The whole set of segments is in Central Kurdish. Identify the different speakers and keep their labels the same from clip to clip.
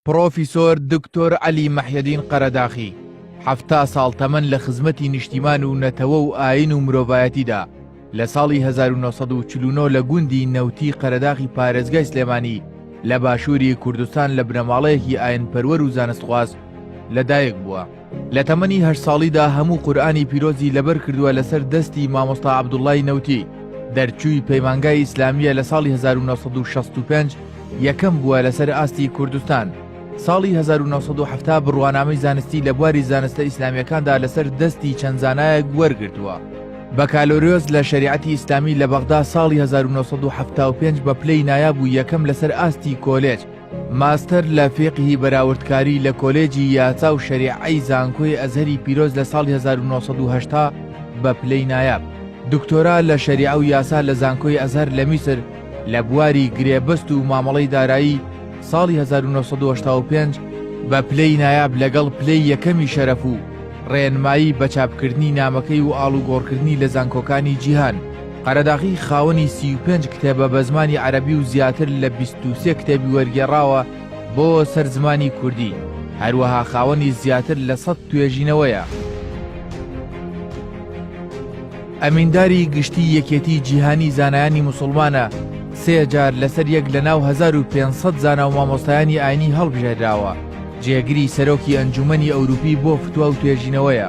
Speaker 1: پڕۆفیسۆر دکتۆر عەلی مەحیەدین قەرەداخی حەفتا ساڵ تەمەن لە خزمەتی نیشتیمان و نەتەوە و ئاین و مرۆڤایەتیدا لە ساڵی 1940 لە گوندی نەوتی قەرەداخی پارێزگای سلێمانی لە باشووری کوردستان لە بنەماڵەیەکی ئاینپەروەر و زانستخواز لەدایک بووە. لە تەمەنی هەشت ساڵیدا هەموو قورئانی پیرۆزی لەبەر کردووە لەسەر دەستی مامۆستا عەبدوڵڵای نەوتی، دەرچووی پەیمانگای ئیسلامییە لە ساڵی 1965 یەکەم بووە لەسەر ئاستی کوردستان، ساڵی 1970 بڕوانامەی زانستی لە بواری زانستە ئیسلامییەکاندا لەسەر دەستی چەند زانایەک وەرگرتووە. بەکالۆریۆس لە شەریعەتی ئیسلامی لە بەغدا ساڵی 1975 بە پلەی نایاب و یەکەم لەسەر ئاستی کۆلێج، ماستەر لە فیقهی بەراوردکاری لە کۆلێجی یاسا و شەریعەی زانکۆی ئەزهەری پیرۆز لە ساڵی هەزار و نۆ سەد و هەشتا بە پلەی نایاب، دکتۆرا لە شەریعە و یاسا لە زانکۆی ئەزهەر لە میسر لە بواری گرێبەست و مامەڵەی دارایی، ساڵی هەزار و نۆ سەد و هەشتا و پێنج بە پلەی نایاب لەگەڵ پلەی یەکەمی شەرەف و ڕێنمایی بە چاپکردنی نامەکەی و ئاڵوگۆڕکردنی لە زانکۆکانی جیهان. قەرەداغی خاوەنی سی و پێنج کتێبە بە زمانی عەرەبی و زیاتر لە بیست و سێ کتێبی وەرگێڕاوە بۆ سەر زمانی کوردی، هەروەها خاوەنی زیاتر لە سەد توێژینەوەیە. ئەمینداری گشتی یەکێتی جیهانی زانایانی موسڵمانە، سێ جار لەسەر یەک لە ناو هەزار و پێنج سەد زانا و مامۆستایانی ئاینی هەڵبژێردراوە، جێگری سەرۆکی ئەنجوومەنی ئەوروپی بۆ فتوا و توێژینەوەیە.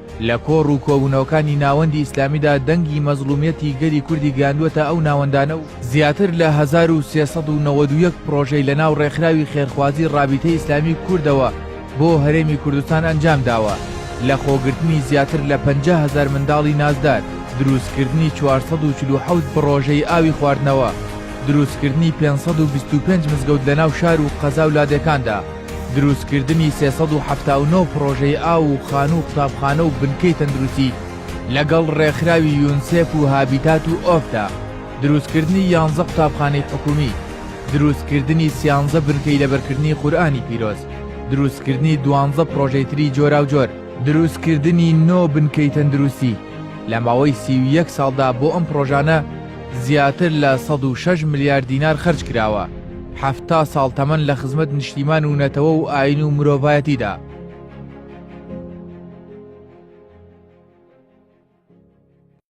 Speaker 1: لە کۆڕ و کۆبوونەوەکانی ناوەندی ئیسلامیدا دەنگی مەزڵوومیەتی گەلی کوردی گەیاندووەتە ئەو ناوەندانە و زیاتر لە هەزار و سێ سەد و نەوەد و یەک پڕۆژەی لەناو ڕێکخراوی خێرخوازی ڕابیتەی ئیسلامی کوردەوە بۆ هەرێمی کوردستان ئەنجام داوە لە خۆگرتنی زیاتر لە پەنجا هەزار منداڵی نازدار، درووستکردنی چوار سەد و چل و حەوت پڕۆژەی ئاوی خواردنەوە، درووستکردنی پێنج سەد و بیست و پێنج مزگەوت لەناو شار و قەزا و لادێکاندا. دروستکردنی سێ سەد و حەفتا و نۆ پڕۆژەی ئاو و خانوو و قوتابخانە و بنکەی تەندروستی لەگەڵ ڕێکخراوی یونسێف و هابیتات و ئۆڤدا، دروستکردنی یانزە قوتابخانەی حکوومی، دروستکردنی سیانزە بنکەی لەبەرکردنی قورئانی پیرۆز، دروستکردنی دوانزە پڕۆژەی تری جۆراوجۆر، دروستکردنی نۆ بنکەی تەندروستی، لە ماوەی سی و یەک ساڵدا بۆ ئەم پڕۆژانە زیاتر لە سەد و شەش ملیار دینار خەرج کراوە. حەفتا ساڵ تەمەن لە خزمەت نیشتیمان و نەتەوە و ئاین و مرۆڤایەتیدا.